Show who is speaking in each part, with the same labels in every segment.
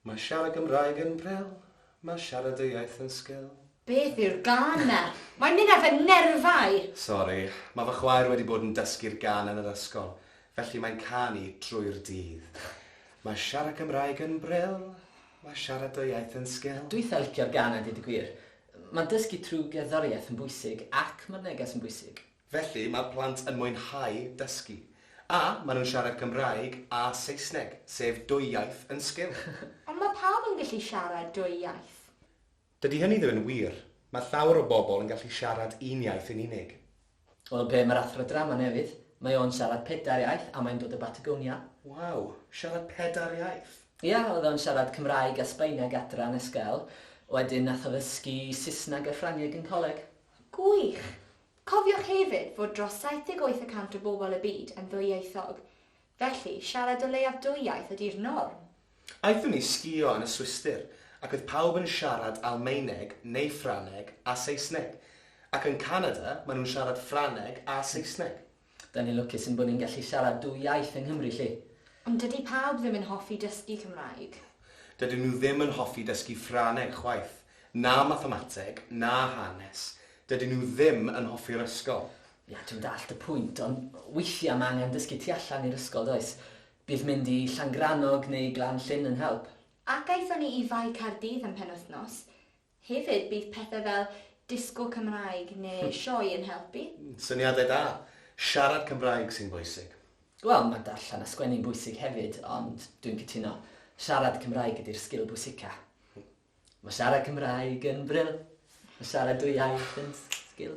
Speaker 1: Mae siarad Gymraeg yn bril, mae siarad dy iaith yn sgil. Beth yw'r gân
Speaker 2: 'na? Mae'n mynd ar fy nerfau! Sori, mae
Speaker 1: fy chwaer wedi bod yn dysgu'r gân yn yr ysgol, felly mae'n canu drwy'r dydd. Mae siarad Cymraeg yn bril, mae siarad dy iaith yn sgil. Dwi itha licio'r gân a
Speaker 3: deud y gwir. Mae dysgu trwy gerddoriaeth yn bwysig ac mae'r neges yn bwysig. Felly mae'r plant
Speaker 1: yn mwynhau dysgu. A maen nhw'n siarad Cymraeg a Saesneg, sef dwy iaith yn sgil. Ond mae pawb
Speaker 2: yn gallu siarad dwy iaith. Dydy hynny
Speaker 1: ddim yn wir. Mae llawer o bobl yn gallu siarad un iaith yn unig. Wel, be am yr
Speaker 3: athro drama newydd? Mae o'n siarad pedair iaith a mae'n dod o Batagonia. Waw!
Speaker 1: Siarad pedair iaith? Ia, oedd o'n siarad
Speaker 3: Cymraeg a Sbaeneg adra yn ysgol. Wedyn nath o ddysgu Saesneg a Ffrangeg yn coleg. Gwych!
Speaker 2: Cofiwch hefyd fod dros 78 y cant o bobl y byd yn ddwyieithog. Felly, siarad o leiaf dwy iaith ydi'r norm. Aethon ni
Speaker 1: sgïo yn y Swistir, ac oedd pawb yn siarad Almaeneg neu Ffrangeg a Saesneg. Ac yn Canada, maen nhw'n siarad Ffrangeg a Saesneg. Dan ni'n lwcus
Speaker 3: ein bod ni'n gallu siarad dwy iaith yng Nghymru 'lly. Ond dydi pawb
Speaker 2: ddim yn hoffi dysgu Cymraeg. Dydyn nhw
Speaker 1: ddim yn hoffi dysgu Ffrangeg chwaith, na mathemateg, na hanes. Dydyn nhw ddim yn hoffi'r ysgol. Ia, dwi'n dallt y
Speaker 3: pwynt, ond weithiau mae angen dysgu tu allan i'r ysgol, does? Bydd mynd i Llangrannog neu Glan Llyn yn help. Ac aethon ni i
Speaker 2: Fae Caerdydd am penwythnos. Hefyd, bydd pethau fel disgo Cymraeg neu sioe yn helpu. Syniadau da!
Speaker 1: Siarad Cymraeg sy'n bwysig. Wel, mae darllen
Speaker 3: a sgwennu'n bwysig hefyd, ond dwi'n cytuno, siarad Cymraeg ydi'r sgil bwysica. Mae siarad Cymraeg yn bril. Mae siarad dwy iaith yn sgil.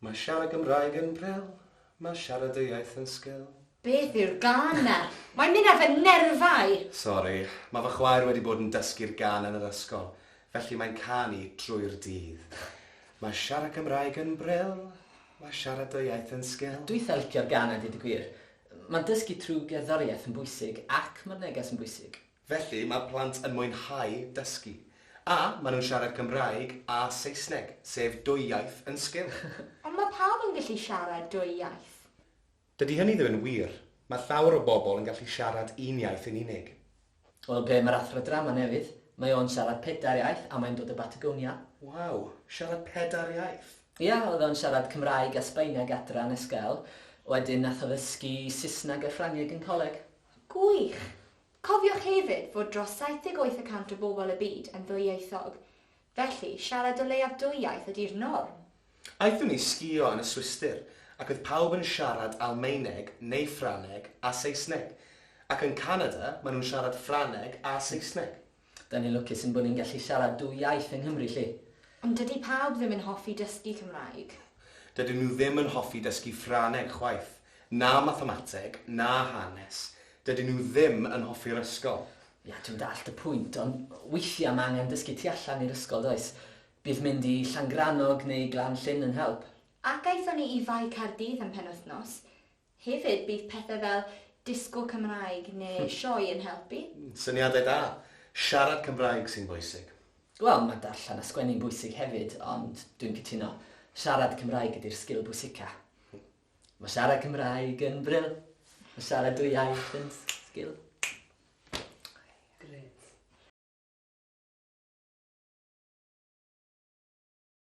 Speaker 1: Mae siarad Gymraeg yn bril, mae siarad dy iaith yn sgil. Beth yw'r gân
Speaker 2: 'na? Mae'n mynd ar fy nerfau! Sori, mae
Speaker 1: fy chwaer wedi bod yn dysgu'r gân yn yr ysgol, felly mae'n canu drwy'r dydd. Mae siarad Cymraeg yn bril, mae siarad dy iaith yn sgil. Dwi itha licio'r gan a deud
Speaker 3: y gwir. Mae dysgu trwy gerddoriaeth yn bwysig ac mae'r neges yn bwysig. Felly, mae'r plant
Speaker 1: yn mwynhau dysgu. A, maen nhw'n siarad Cymraeg a Saesneg, sef dwy iaith yn sgil. Ond mae pawb
Speaker 2: yn gallu siarad dwy iaith. Dydy hynny
Speaker 1: ddim yn wir. Mae llawer o bobl yn gallu siarad un iaith yn unig. Wel, pe mae'r
Speaker 3: Athro Drama newydd, mae o'n siarad pedair iaith a mae'n dod o Batagonia. Waw!
Speaker 1: Siarad pedair iaith? Ia, oedd o'n siarad
Speaker 3: Cymraeg a Sbaeneg adra yn ysgol, wedyn nath o ddysgu Saesneg a Ffrangeg yn coleg. Gwych!
Speaker 2: Cofiwch hefyd fod dros 78 y cant o bobl y byd yn ddwyieithog, felly siarad o leiaf dwy iaith ydi'r norm. Aethon ni
Speaker 1: sgïo yn y Swistir ac oedd pawb yn siarad Almaeneg neu Ffrangeg a Saesneg, ac yn Canada maen nhw'n siarad Ffrangeg a Saesneg. Dan ni'n lwcus
Speaker 3: yn bod ni'n gallu siarad dwy iaith yng Nghymru 'lly. Ond dydi pawb
Speaker 2: ddim yn hoffi dysgu Cymraeg. Dydyn nhw ddim
Speaker 1: yn hoffi dysgu Ffraneg chwaith, na Mathemateg, na Hanes, dydyn nhw ddim yn hoffi'r ysgol. Ia,
Speaker 3: dwi'n dallt y pwynt, ond weithiau mae angen dysgu tu allan i'r ysgol, does? Bydd mynd i Llangrannog neu Glan Llyn yn help. Ac aethon ni i
Speaker 2: Fae Caerdydd am penwythnos. Hefyd, bydd pethau fel disco Cymraeg neu sioe yn helpu. Syniadau da!
Speaker 1: Siarad Cymraeg sy'n bwysig. Wel, mae darllen
Speaker 3: a sgwennu'n bwysig hefyd, ond dwi'n cytuno, siarad Cymraeg ydy'r sgil bwysica. Mae siarad Cymraeg yn bril. Mae siarad dwy iaith yn sgil. Grêt.